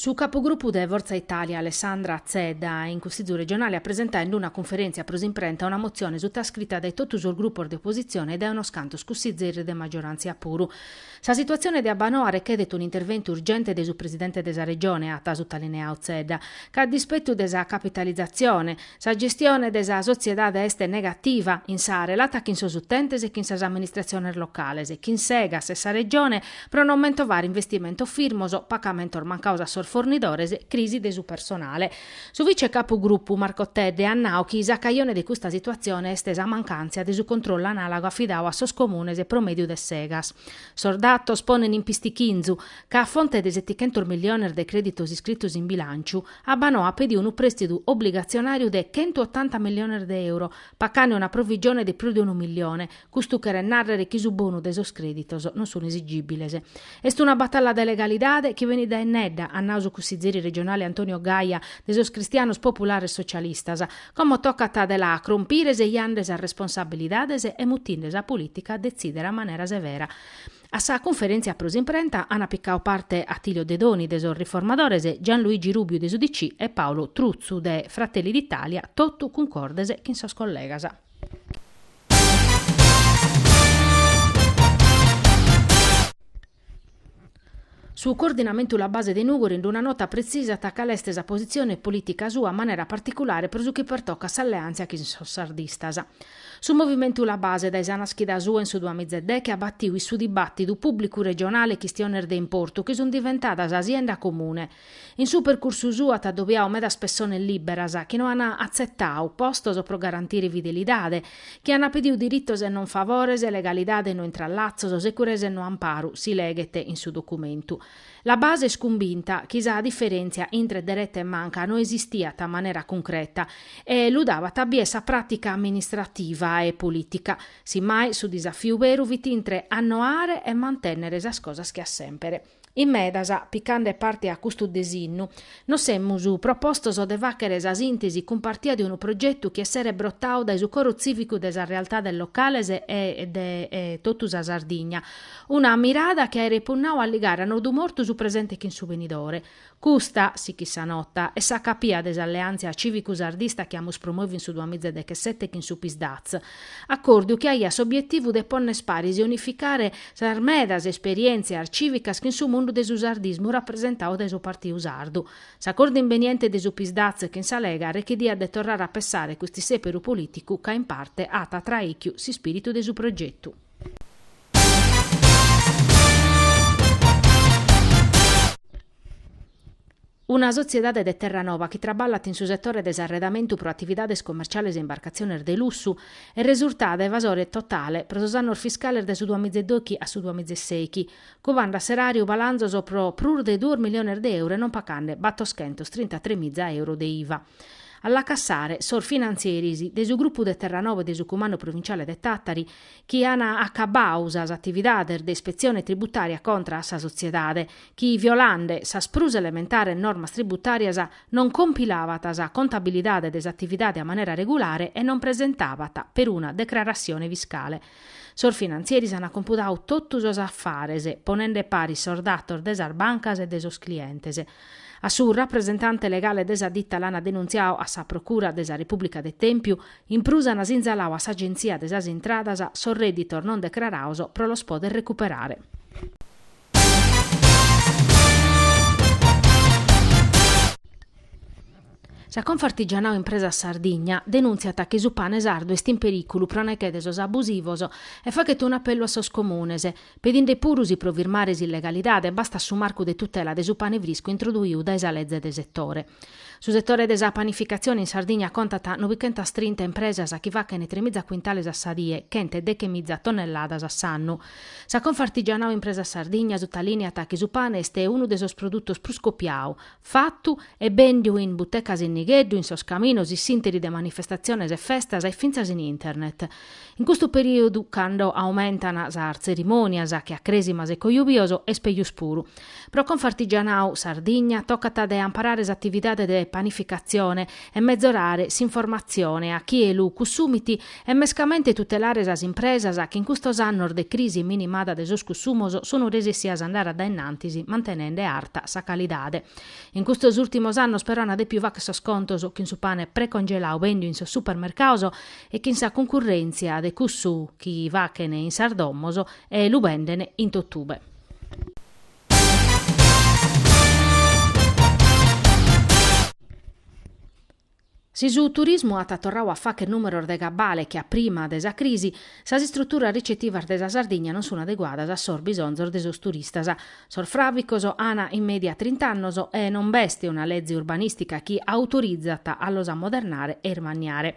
Su capogrupu de Forza Italia Alessandra Zedda in Cussizu Regionale at presentadu in una cunferèntzia pro s'imprenta una motzione sutascrita dae totu sos grupos de opositzione e dae unos cantos cussizeris de maggioràntzia puru. Sa situatzione de Abbanoa rechèdet un'interventu urgente de su presidente de sa Regione, at sutalineadu Zedda, ca a dispetu de sa capitalizatzione, Sa gestione de sa sotziedade est negativa, in sa relata chin sos utentes e chin sas amministratziones locales, chin s'Egas e sa Regione, pro non mentovare investimentos firmos, pagamentos mancados a sos fornidores, crisi de su personale. Su vice capugrupu Marco Tedde at nadu chi sa cajone de custa situatzione est sa mancàntzia de su controllu anàlogu afidadu a sos comunes pro mèdiu de s'Egas. Sos datos ponen in pistichinzu, ca a fonte de setichentos milliones de crèditos iscritos in bilànciu, Abbanoa at pediu unu prèstidu obligatzionàriu de chentu otanta milliones de euro, pacande una provigione de prus de unu millione. Custu cheret nàrrere chi su bonu de sos crèditos non sun esigìbiles. Est una batalla de legalidade chi benit dae innedda, at nau su cussizeri regionale Antonio Gaia de sos Cristianos Populares Socialistas. Como tocat de la crompire sejande sas responsabilidades e mutinde sa polìtica a detzìdere a manera severa. A sa cunferèntzia pro s'imprenta ant picadu parte Attilio Dedoni de sos Riformadores, Gianluigi Rubiu de s'UDC e Paolo Truzzu de Fratelli d'Italia, totu cuncordes chin sos collegas. Su Coordinamentu La Base de Nùgoro in una nota pretzisat cale est sa positzione polìtica sua a manera particulare pro su chi pertocat s'alleàntzia chin sos sardistas. Su movimentu La Base dae sa naschida sua in su duamiza e deche at batiu in su dibàtidu pùblicu regionale chistiones de importu chi sunt diventadas sa sienda comune. In su percursu suu at adobiau medas pessones lìberas chi no an atzetau postos pro garantire fidelidade, chi an pediu diritos e non favores, legalidade e no intrallatzos, securesa e no amparu, si leghet in su documentu. La base est cumbinta chi sa diferèntzia intre dereta e manca no esistiat a manera cuncreta e lu dabat a bier sa pràtica amministrativa e polìtica. Simmai su disafiu beru fit intre annoare e mantènnere sas cosas che a semper. In medas, picande parte a custu desinnu, Nos semus propostos de fàghere sa sìntesi cumpartia de unu progetu chi esseret brotadu dae su coro tzìvicu de sas realtades locales e de totu sa Sardigna, una mirada chi aeret punnadu a ligare a nodu mortu su presente chin su benidore. Custa, sichit sa nota, est sa capia de s'alleàntzia cìvicu-sardista chi amus promoviu in su duamiza e dechesete chin su Psdaz, Acordiu chi aiat s'obietivu de ponner paris e unificare sas medas esperientzias civicas chin su mundu de su sardismu rapresentadu dae su Partiu Sardu. S'acordu imbeniente de su Psdaz chin sa Lega rechediat de torrare a pessare cust'isseperu politicu ca in parte at traìchiu s'ispiritu de su progetu. Una sotziedade de Terranova chi traballat in su setore de s'arredamentu pro atividades comerciales e imbarcatziones de lussu, est resurtada evasore totale pro sos annos fiscales de su duamiza e dochi a su duamiza e sèichi, cubande a s'eràriu balanzos pro prus de duos miliones de euro e non pacande battoschentos trintatremiza euro de iva. A la cassare sos finantzieris de su grupu de Terranova e de su Cumandu Provinciale de Tàtari chi an acabbau sas atividades de ispetzione tributària contra a sa sotziedade chi violande sas prus elementares normas tributàrias non compilabat sa contabilidade de s'atividade a manera regulare e non presentabat peruna decraratzione fiscale. Sos finantzieris ant compudau totu sos afares, ponende paris sos datos de sas bancas e de sos clientes. A su rapresentante legale de sa ditta l'ant denuntziau a sa Procura de sa Repùblica de Tèmpiu, in prus ant sinzalau a s'Agentzia de sas Intradas sos rèditos non decraraos pro los poder recuperare. Sa Confartigianau Impresas Sardigna denùntziat chi su pane sardu est in perìculu pro neche de sos abusivos e fachet un'apellu a sos Comunes, pedinde puru si pro firmare s'illegalidade bastat su marcu de tutela de su pane friscu introduiu dae sa leze de setore. Su setore de sa panificatzione in Sardigna contat nobichentas trinta impresas chi fachent tremiza cuintales a sa die, chentedechemiza tonnelladas a s'annu. Sa Confartigianau Impresas Sardigna sutalìneat chi su pane est unu de sos produtos prus copiau, fatu e bèndiu in butecas in nigheddu, in sos caminos, in s'ìnteri de manifestatziones e festas e fintzas in internet. In custu perìodu, cando aumentan sas tzerimònias, che a crèsimas e cojubios, est pejus puru. Pro Confartigianau Sardigna tocat de amparare s'atividade de panificatzione e mezorare s'informatzione a chie lu cussumit e mescamente tutelare sas impresas chi in custos annos de crisi e minimada de sos cussumos sun resessias a andare a dae innantis mantenende arta sa calidade. In custos ùrtimos annos però ana dèpiu facher sos contos chin su pane precongelau bèndiu in sos supermercaos e chin sa cuncurrèntzia de cussu chi fachen in sas domos e lu benden in totube. Si su turismu at torrau a facher numeros de gabbale che a prima de sa crisi, sas istruturas ricetivas de sa Sardigna non sun adeguadas a sos bisonzos de sos turistas. Sos fràvicos an in media trint'annos e non b'est una leze urbanistica chi autorizat a los ammodernare e ismanniare.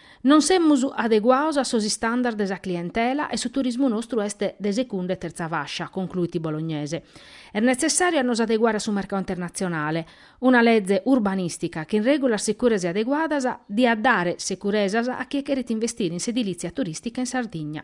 Non semus adeguados a sos istandards de sa clientela e su turismu nostru est de secunda e terza fascia, concluit Bolognese. Est netzessàriu a nos adeguare a su mercadu internatzionale. Una leze urbanìstica chin règulas sicuras e adeguadas diat dare securesas a chie cheret investire in s'edilìtzia turìstica in Sardigna.